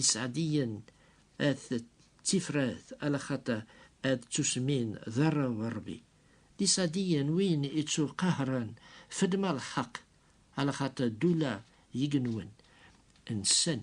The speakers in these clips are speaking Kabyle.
Iseɛdiyen ad ttifrat ala xaṭer ad ttusmin d arraw n Rebbi. D iseɛdiyen win ittuqahren fedma lḥeq, ala xaṭer ddula n yigenwen nsen.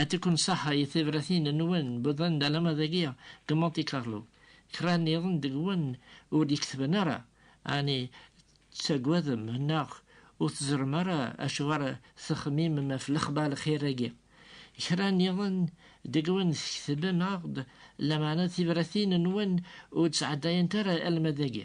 Ad tikkun saḥa i tebratin-nwen wwḍen-d alamma dagi deg Monte Carlo. Kra nniḍen deg-wen ur d-iketben ara, ɛni tettaggadem neɣ ur teẓrem ara acu ara texmimem ɣef lexbar lxir-agi? Kra nniḍen deg-wen tketbem-aɣ-d, lameɛna tibratin-nwen ur d-sɛeddayent ara alamma dagi.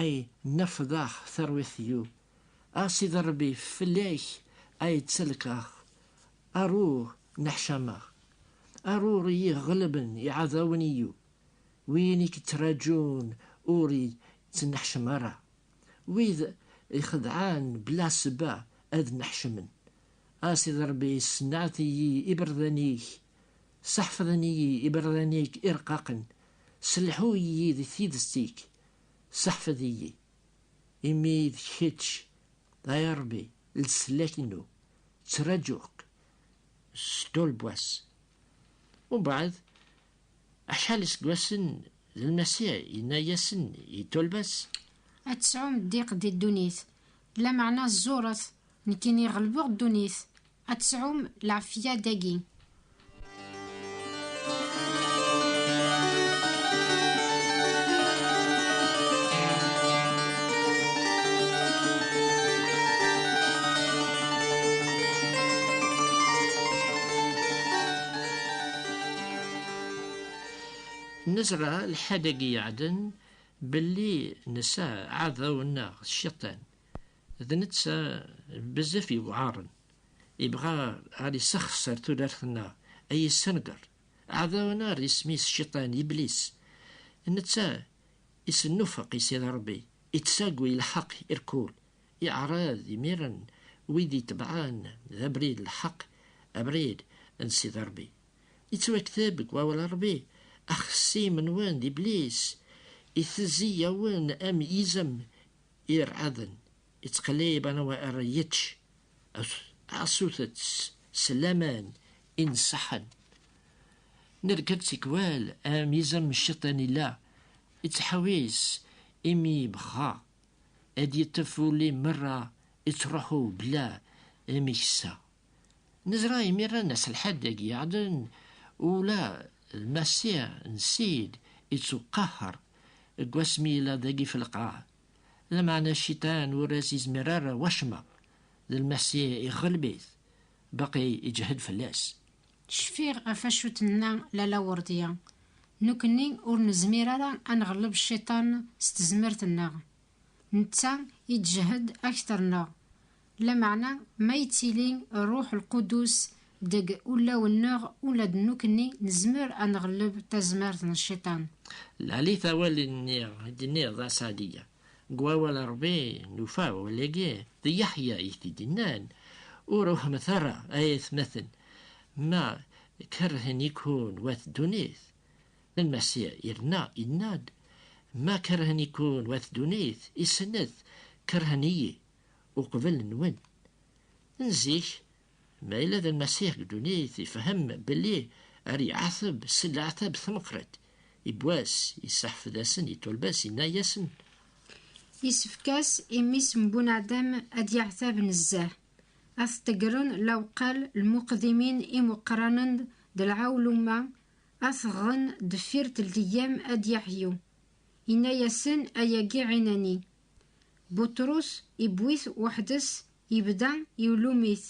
Ay nafḍax tarwiḥt yu. A Sidi Ṛebbi fell-ak ay ttalkeɣ, ar ur neḥcameɣ, ar ur iyi-ɣelben iɛdawen yu, win i k-ttraǧun ur ittneḥcem ara, wid ixedɛen bla ssebba ad nneḥcmen, a Sidi Ṛebbi ssenɛet-iyi iberdan-ik, sseḥfḍen-iyi iberdan-ik ireqqaqen, sselḥu-iyi di tidet-ik, Seḥfed-iyi, imi d kečč, ay Ṛebbi, leslak-inu, ttraǧuɣ-k s ṭṭul n wass. Mbeɛd acḥal iseggasen, d Lmasiḥ yenna-yasen i ṭṭulba-s. Ad tesɛum ddiq di ddunit, Lameɛna ẓẓuret, nekkini ɣelbeɣ ddunit, ad tesɛum lɛafya dagi. Nezra lḥad-agi iɛedden, Belli nesɛa aɛdaw-nneɣ Cciṭan, d netta bezzaf yewɛaren, ibɣa ar isexser tudert-nneɣ, a yessenger. Aɛdaw-nneɣ isem-is Cciṭan, Iblis, netta isennufeq i Sidi Ṛebbi, ittaggu i lḥeq irkul, iɛṛeḍ imiren wid itebɛen d abrid n lḥeq, abrid n Sidi Ṛebbi. Ittwakteb deg wawal Rebbi, axessim-nwen d iblis, itezzi-yawen am yizem irɛaden, ittqellib anwa ara yečč asutets s laman ineṣṣaḥen. Nerkeb tikwal am yizem cciṭan illa, ittḥewwis imi yebɣa ad yeṭṭef ul-im merra, ittruḥu bla ameksa. Nezra imir-a aselḥad deg yiɛden, ula d Masiɛ n Ssid ittuqaḥer deg wasmi yella dagi f lqaɛ, lameɛna cciṭan ur as-izmir ara wacemma, d Lmasiɛ iɣelb-it, baqi iǧhed fell-as. Cfiɣ ɣef wacu i d-tenna Lalla Werdiya, Nekkni ur nezmir ara a nɣelleb cciṭan s tezmert-nneɣ, netta i d-jehd akter neɣ, lameɛna ma yettili Rruḥ Lqudus deg ulawen-nneɣ ula d nukni nezmer a nɣelleb tazmert n Cciṭan. Lalit awal-nni i d-tenniḍ a Sadia, deg wawal n Rebbi nufa awal-agi, d Yeḥya i t-id-yennan, Ur ruḥemt ara ay atmaten, ma kerhen-iken wat ddunit, Lmasiḥ yerna yenna-d, Ma kerhen-iken wat ddunit, isnet, kerhen-iyi uqbel nwen. N zik, ma yella d Lmasiḥ deg ddunit, ifhem belli ar iɛateb s leɛtab tameqqrit, ibbwas, isseḥfed-asen i tulbas, yenna-yasen. Yessefk-as i mmi-s n Bunadem ad yeɛtab nezzeh, ad t-ḍeggren lawqal lmuqdimin imuqranen d lɛewluma Ad t-ɣɣen deffir telteggam a d-yaḥyu. Inna-yasen, Ayagi ɛinani. Buṭrus iwwi-t weḥd-s yebda iwlum-it,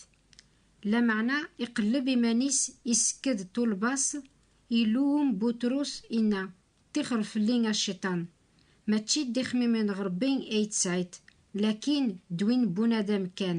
lameɛna iqelleb iman-is isekked ṭṭulba-s, iluwem Buṭrus inna, Ṭixer fell-i a Cciṭan! Mačči d ixmimen n Rebbi ay tesɛiḍ, lakin d win n bunadam kan.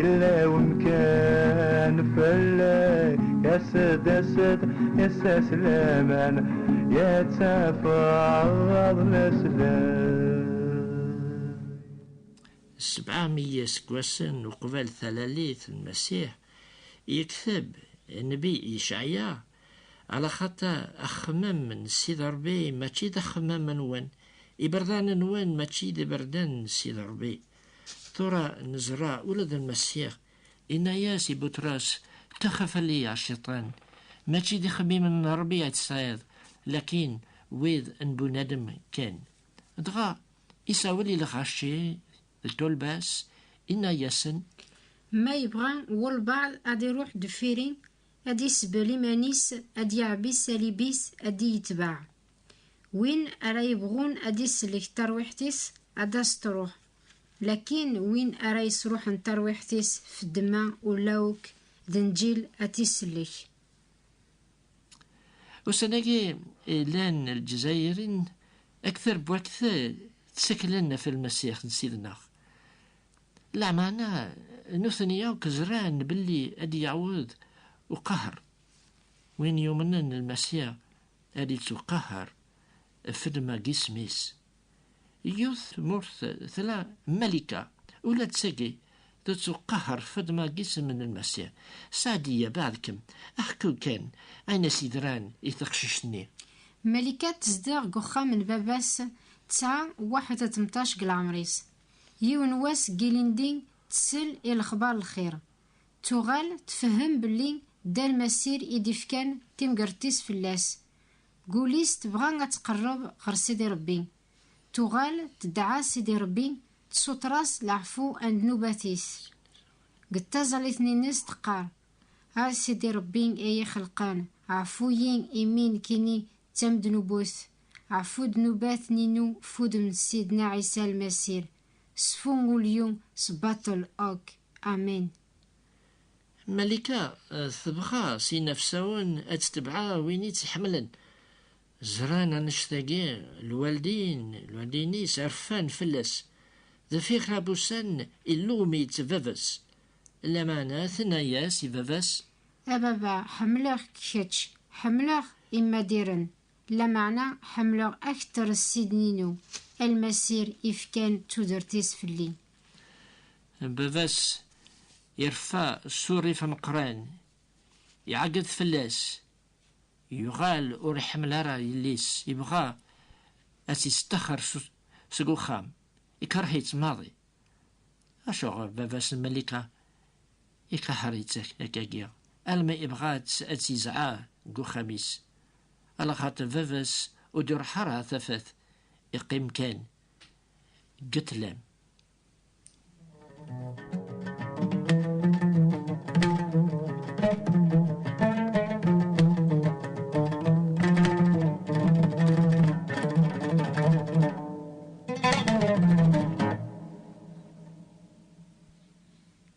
ilawen kan fell-ak As-d, as-d, as-as laman Yettafeɣ ɣer leslak Sebɛa mi yiseggasen uqbel talalit n Masiḥ, yekteb nnbi Yecɛya, Alaxaṭer axemmem n Sidi Ṛebbi mačči d axemmem-nwen, iberdan-nwen mačči d iberdan n Sidi Ṛebbi. Tura nezra ula d Lmasiɣ inna-yas i Butṛas, Taxaf a Liya, a Cciṭan! Mačči d ixemmimen n Ṛebbi i tesɛiḍ, lakin wid n bunadem kan. Dɣa isawel i lɣaci d tulbas, inna-yasen. Ma yebɣa walebɛaḍ a d-iṛuḥ deffir-i, a d-isbel iman-is, a d-yeɛbi ṣṣalib-is, a d-iyi-tbeɛ. Win ara yebɣun ad d-isellek tarwiḥt-is, ad d-as-truḥ. Lakin win ara yesruḥen tarwiḥt-is f ddemma ula ok d nnǧil ad t-isellek. Ussan-agi yellan Lezzayirin ak terbwakt tteklen af Lmasiḥ n Sidneɣ. Lameɛna nutni akk zran belli ad d-yaweḍ uqaher. Win yumnen Lmasiḥ ad ittuqaher fedma gismis. Yiwet tmurt tla Malika, ula d tagi tettuqaher fedma gisem n Lmasi. Saɛdiya, beɛdkem, ḥku kan ayen as yedran i teqcict-nni. Malika tezdeɣ deg uxxam n baba-s tesɛa waḥed a temṭac deg leɛmer-is. Yiwen wass ilindi tsel i lexbar lxir, Tuɣal tfehhem belli Dal Massir i d-ifkan timgerdt-is fell-as. Gul-is tebɣa ad tqerreb ɣer Sidi Rebbi. Tuɣal tedɛa Sidi Rebbi, tessuter-as leɛfu n ddnubat-is. Deg taẓallit-nni-nnes teqqar, A Sidi Rebbi ay ixelqen, ɛfu-yi imi nekkini d tamednubut, ɛfu ddnubat ninu f wudem n Sidna Ɛisa Lmassir, sfu ul-iw s baṭel akk. Amen. Malika tebɣa s inafsawen ad tetbeɛ win i tt-iḥemmlen. Ẓran annect-agi lwaldin, lwaldin-is rfan fell-as. Deffir kra n wussan, illuɣem-itt baba-s. Lameɛna tenna-as i baba-s. A baba, ḥemmleɣ-k kečč, ḥemmleɣ Imadiren. Lameɛna ḥemmleɣ akter Sydney-inu, almasir ifkan tudert-is fell-i. Baba-s ireffa s urrif ameqqran, iɛeggeḍ fell-as, yuɣal ur iḥemmel ara yelli-s, yebɣa ad tt-yesṭaxxer seg uxxam, ikerh-itt maḍi. Acuɣer baba-s n Melika iqaḥer-itt akagi alma ibɣa-tt ad tt-izɛa deg uxxam-is, ala xaṭer baba-s ur d-iruḥ ara tafat, iqqim kan deg ṭlam.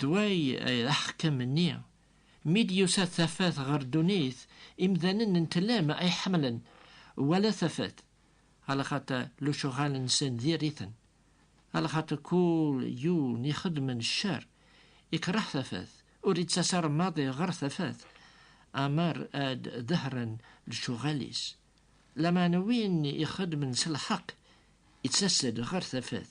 Dway aḥkam-nni, mi d-yusa tafat ɣer ddunit, imdanen n tlem ay ḥemmlen wala tafat, alaxaṭer lecuɣal-nsen diri-ten, alaxaṭer kul yiwen ixeddmen ccer ikreh tafat, ur ittas ara maḍi ɣer tafat amer ad dehren lecuɣal-is, lameɛna win ixeddmen s lḥeqq ittas-d ɣer tafat.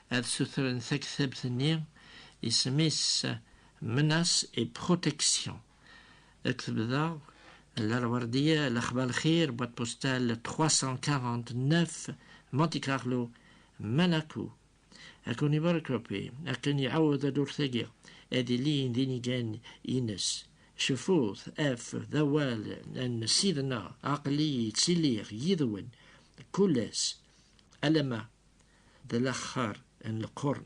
ad sutren taktabt-nni isem-is Menaces et protections deg tebda n Lerwardiya Lexba Lxir, boîte postale 349, Monte Carlo, Monaco. Ad ken-ibarek Ṛebbi akken iɛawed ad urtagi ad ilin d inigan-ines. Cfut ɣef d awal n Sidna, aql-iyi ttiliɣ yid-wen kul ass alamma d alaxxar n lqern.